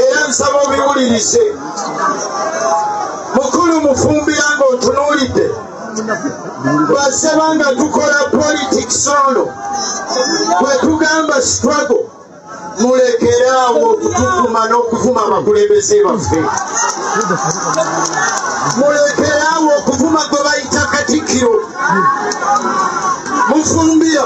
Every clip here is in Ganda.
era nsaba obiwulirize mukulu mufumbira ng'otunuulidde basaba nga tukola politics ono bwetugamba struggle mulekeraawo okutuvuma n'okuvuma abakulembeze baffe mulekeraawo okuvuma gwe bayita katikiro mufumbira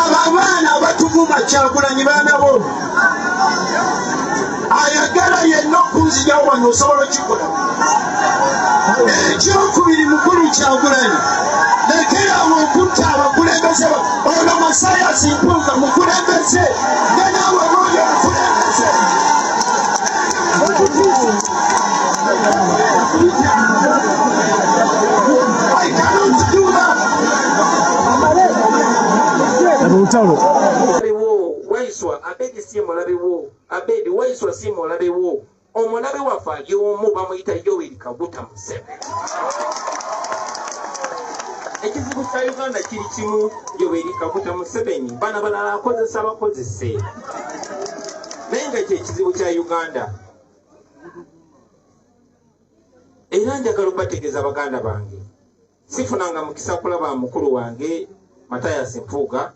abo abaana abatuvuma kyagulanyi baana bo ayagala yenna okunzija wano osobola okikola ekyokubiri mukulu kyagulanyi lekerawo okutta abakulembeze ono masayasi mpunga mukulembeze olutalo waiswa abedi si mulabe wo abedi waiswa si mulabe wo omulabe waffe ali omu bamuyita yoweri kaguta museveni ekizibu kya uganda kiri kimu yoweri kaguta museveni bana balala akozesa bakozese naye nga kyekizibu kya uganda era njagala okubategeeza baganda bange sifunanga mukisa kulaba mukulu wange matayas mpuuga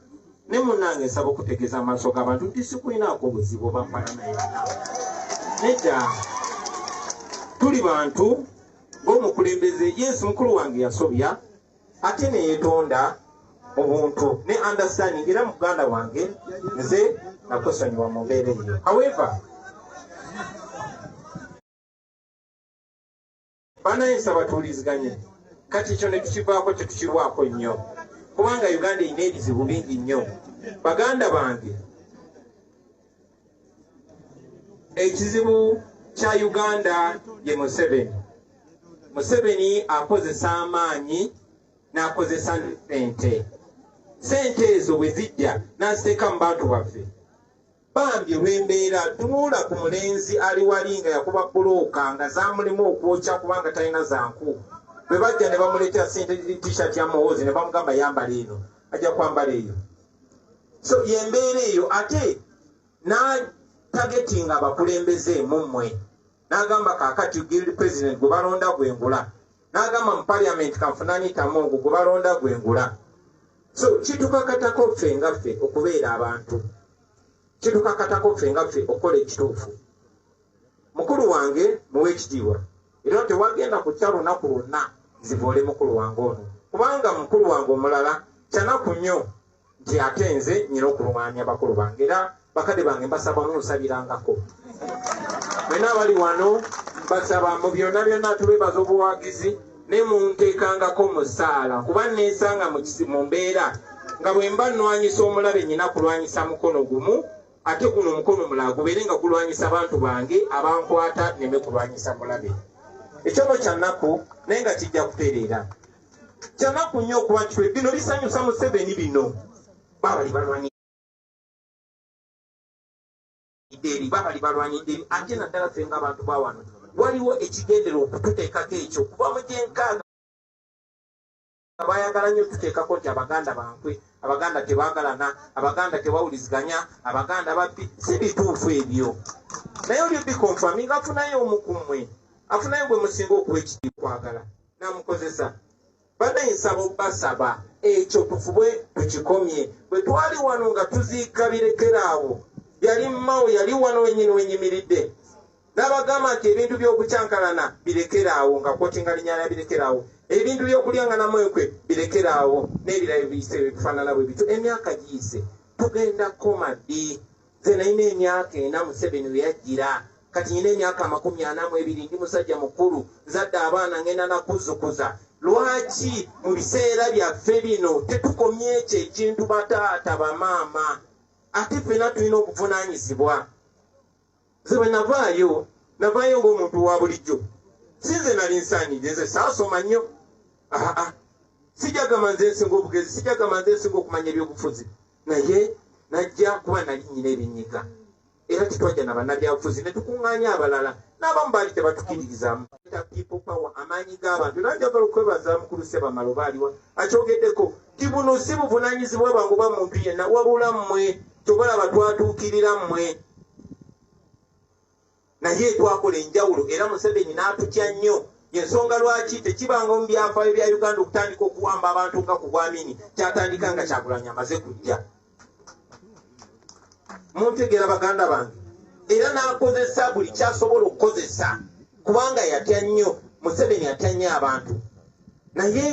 ne munange nsaba okutegeeza amaaso g'abantu nti sikulinaako obuzibu obamfana naye nedda tuli bantu ng'omukulembeze yes mukulu wange yasobya ate neyetonda obuntu ne understanding era muganda wange nze nakusonyiwa mu mbeera eyo however banaye nsaba tuwuliziganye kati ekyo netukivaako tetukirwako nnyo kubanga uganda erina ebizibu bingi nnyo baganda bange ekizibu kya uganda ye museveni museveni akozesa amaanyi n'akozesa sente sente ezo bwe zijja n'aziteeka mu bantu baffe bambi olw'embeera tunuula ku mulenzi ali wali nga yakuba bulooka nga zamulimu okwokya kubanga talina zanku bwe bajja ne bamuleetera sente tishat ya muhoozi ne bamugamba yambala eno ajja kwambala eyo so yembeera eyo ate natagetinga abakulembeze mummwe nagamba kakati guild president gwe balonda gwengula nagamba mu parliament kanfunanitamu ogwo gwe balonda gwengula so kitukakatako ffe nga ffe okubeera abantu kitukakatako ffe nga ffe okukola ekituufu mukulu wange muwa ekitiibwa era tewagenda kukya lunaku lwonna zivoole mukulu wange ono kubanga mukulu wange omulala kyanaku nnyo nti ate nze nyina okulwanya bakulu bange era bakadde bange mbasabamu nsabirangako mwena abali wano mbasaba mu byonna byonna tubebaza obuwagizi ne munteekangako musaala kuba neesanga mu mbeera nga bwe mba nnwanyisa omulabe nyina kulwanyisa mukono gumu ate guno omukono omulala gubeere nga gulwanyisa bantu bange abankwata neme kulwanyisa mulabe ekyono kyanaku naye nga kijja kutereera kyanaku nnyo okuba nti bino bisanyusa museveni bino babali balwanyi eri babali balwanyidde eri ate naddala fe nga abantu bawano waliwo ekigendera okututeekako ekyo kuba mu gyenkaaga bayagala nyo tuteekako nti abaganda bankwe abaganda tebagalana abaganda tebawuliziganya abaganda babbi si bituufu ebyo naye oli bikonfaminga afunayo omukumwe afunayo gwe musinga okuwa ekiri kwagala namukozesa banaye nsaba obasaba ekyo tufube tukikomye bwe twali wano nga tuziika birekeraawo yali mmawo yali wano wenyini wenyimiridde n'abagamba nti ebintu by'okukyankalana birekere awo nga kwotinga linya lya birekere awo ebintu by'okulyanganamu enkwe birekere awo n'ebirala ebiyise ebifaanana bwe bityo emyaka giyise tugenda kukoma ddi nze nalina emyaka ena museveni we yajjira kati nyina emyaka amakumi ana mu ebiri ndi musajja mukulu nzadde abaana ngenda nakuzukuza lwaki mu biseera byaffe bino tetukomye ekyo ekintu bataata bamaama ate ffena tulina obuvunanyizibwa nze bwe navaayo navaayo ng'omuntu wa bulijjo si nze nali nsaanidde nze saasoma nnyo aa sijagamba nze nsinga obugezi sijagamba nze nsinga okumanya ebyobufuzi naye najja kuba nali nyina ebinyiga era tetwajja na bannabyabufuzi ne tukuŋŋaanya abalala n'abamu baali tebatukiririzamu amaanyi g'abantu era njagala okwebaza mukulu sebamala oba aliwa akyogeddeko ti buno si buvunaanyizibwa bwangu ba muntu yenna wabula mmwe kyobalaba twatuukirira mmwe naye twakola enjawulo era museveni n'atutya nnyo yensonga lwaki tekibanga mu byafaayo bya uganda okutandika okuwamba abantu nga ku bwamini kyatandika nga kyakulanya amaze kujja muntegeera baganda bange era n'akozesa buli kyasobola okukozesa kubanga yatya nnyo museveni atya nnyo abantu naye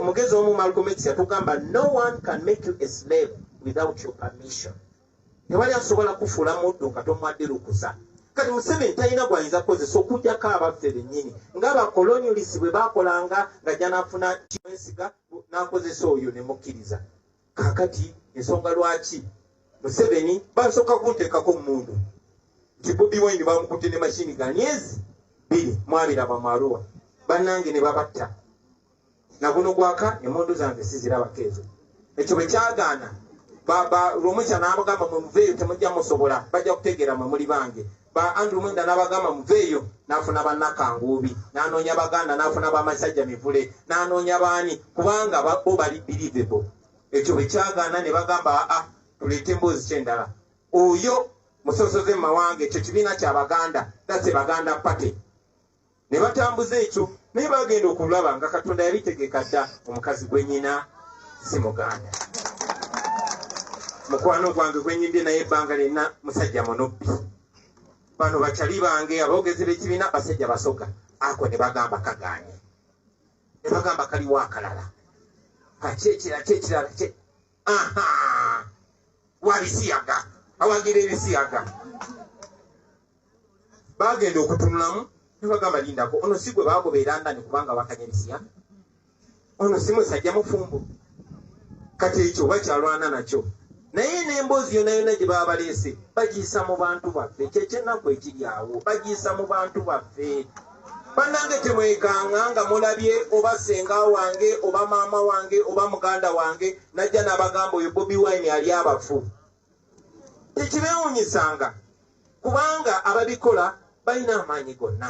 omugezi omu malcomix yatugamba no one can make you a slave without your permission tewali asobola kufuula muddu nga tomwadde lukusa kati museveni talina gwayinza kukozesa okujjako abaffe bennyini nga bakolonyulisi bwe bakolanga nga janafuna kimwesiga n'akozesa oyo ne mukkiriza kakati ensonga lwaki museveni basooka kunteekako mundu nti bobi wine bamukutte ne mashini ga myezi biri mwabiraba mwaruwa bannange ne babatta na guno gwaka emundu zange sizirabako ezo ekyo bwe kyagaana baba lwomukya n'abagamba mwe muveeyo temujja musobola bajja kutegeera mwe muli bange ba andrew mwenda n'abagamba muveeyo n'afuna bannakanguubi n'anoonya baganda n'afuna bamasajja mivule n'anoonya baani kubanga bo bali believable ekyo bwe kyagaana ne bagamba aa ah, tuleete emboozi kyendala oyo musosoze mu mawanga ekyo kibiina kya baganda dase baganda party ne batambuza ekyo naye bagenda okulaba nga katonda yabitegeka dda omukazi gwenyina si muganda mukwano gwange gwenyimbye naye ebbanga lyonna musajja munubbi bano bacali bange aboogezi b'ekibiina basajja basoga ako ne bagamba kaganye ne bagamba kaliwo akalala kaki ekirala kyekirala kye aha wabisiyaga awagira ebisiyaga bagenda okutunulamu nebagamba lindako ono si gwe bagoba erandani kubanga wakanyabisiya ono si musajja mufumbo kati ekyo oba kyalwana nakyo naye n'emboozi yonayona gye baba baleese bagiyisa mu bantu baffe kyekyenaku ekiri awo bagiyisa mu bantu baffe banange temwekanga nga mulabye oba senga wange oba maama wange oba muganda wange najja nabagamba oyo bobi wine ali abafu tekibeewunyisanga kubanga ababikola balina amaanyi gonna.